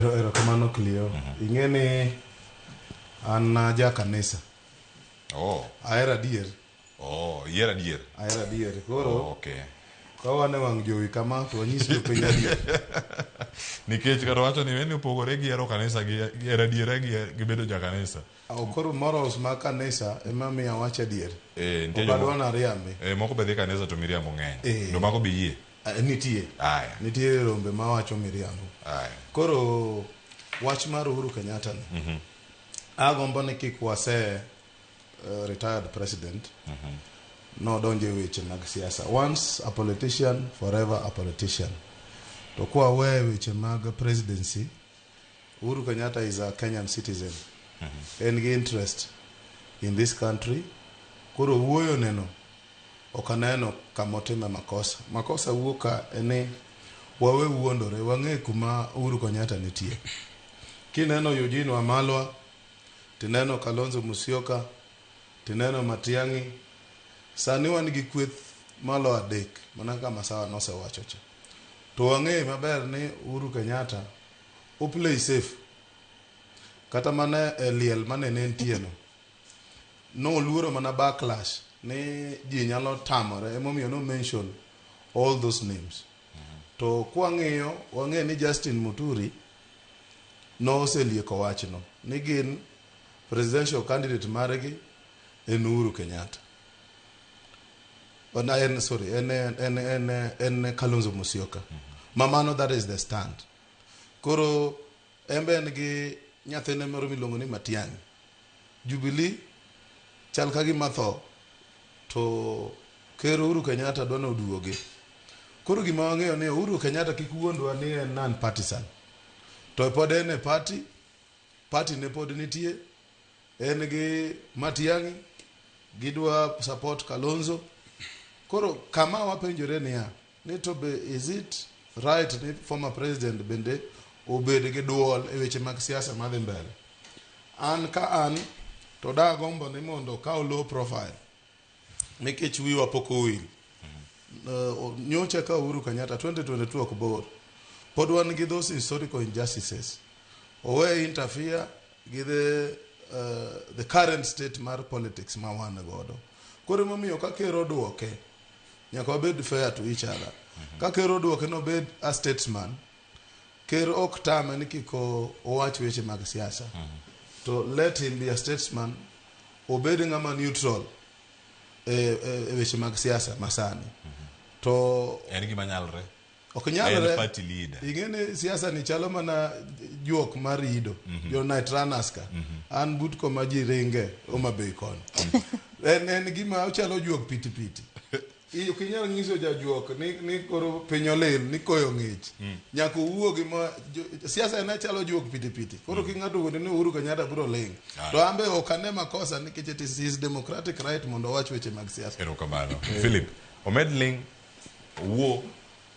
Ero- Erokamano Clio. Ing'e ni an ah, ja kanisa. Oh, Ahero adier. oh, iyer adier. Ahero adier. Oh, Koro okay. ka wan e wang' jowi kama to wanyis jopiny adier. Nikech kata wacho ni weni opogore gi hero kanisa gi gi hero adiera gi gi bedo ja kanisa. Aw, Koro morals ma kanisa ema miyo awach adier. Eh, nitie Obadwa joma- nariambi. Eh, moko be dhi kanisa to miriambo ng'eny. Eh. Ndo mago be yie. Eh, nitie Aya. nitie rombe ma wacho miriambo Aya. koro wach mar uhuru kenyatta ni mm-hmm. agombo ni kik wase uh, retired president mm-hmm. nodonje weche mag siasa once a politician forever a politician to kwa we weche mag presidency uhuru kenyatta is a kenyan citizen mm-hmm. en gi interest in this country koro wuoyo neno Ok aneno kama otime makosa. Makosa wuok ka en ni wawe wuondore, wang'e kuma Uhuru Kenyatta nitie. Kineno Eugene Wamalwa, tineno Kalonzo Musyoka, tineno Matiang'i, sani wan gi kweth malo adek mana kaka Masawa nosewacho cha. To wang'e maber ni Uhuru Kenyatta o play safe. Kata mana e liel mane ne entieno. Noluoro mana backlash ni ji nyalo tamore emomiyo no mention all those names. To kwang'iyo wang'e ni Justin Muturi noselieko wachno ni gin presidential candidate margi en Uhuru Kenyatta. Ona en sorry en en en en Kalonzo Musyoka. Mamano that is the stand. Koro En be en gi nyathine moro miluongo ni Matiang'i. Jubilee chal ka gima tho to ker Uhuru Kenyatta dwa ni oduogi. Koro gima wang'eyo ni Uhuru Kenyatta kik wuondwa ni en non partisan. To pod en e party, party ne pod nitie, en gi Matiang'i, gidwa support Kalonzo. Koro kama wapenjore niya, Ni to be is it right ni former president bende obed gi duol e weche mag siasa madhi mbele? An ka an to da gombo ni mondo okaw low profile nikech wiwa pok owil. Uh, nyocha ka Uhuru Kenyatta 2022 ok bor. Pod wan gi those historical injustices. Owe interfere gi the, uh, the current state mar politics ma wan godo. Koro emomiyo ka ker oduoke nyaka wabed fair to each other ka ker oduoke nobed a statesman ker ok tame ni kik o- owach weche mag siasa to let him be a statesman obed ng'ama neutral e, e, e weche mag siasa masani to en gima nyalre ok en nyalre party leader ing'eni siasa ni chalo mana juok mar ido jo night runners ka an but koma ji ringe Homa Bay koni en, en gima ochalo juok pitipiti I- ok inyal nyiso jajuok ni, ni koro piny olil ni koyo ng'ich nyaka owuo gi ma jo- siasa en achalo juok pitipiti koro ki ng'ato wuonde ni Uhuru Kenyatta biro ling Aye. to an be ok ane makosa nikech it is his democratic right mondo owach weche mag siasa erokamano philip omed ling owuo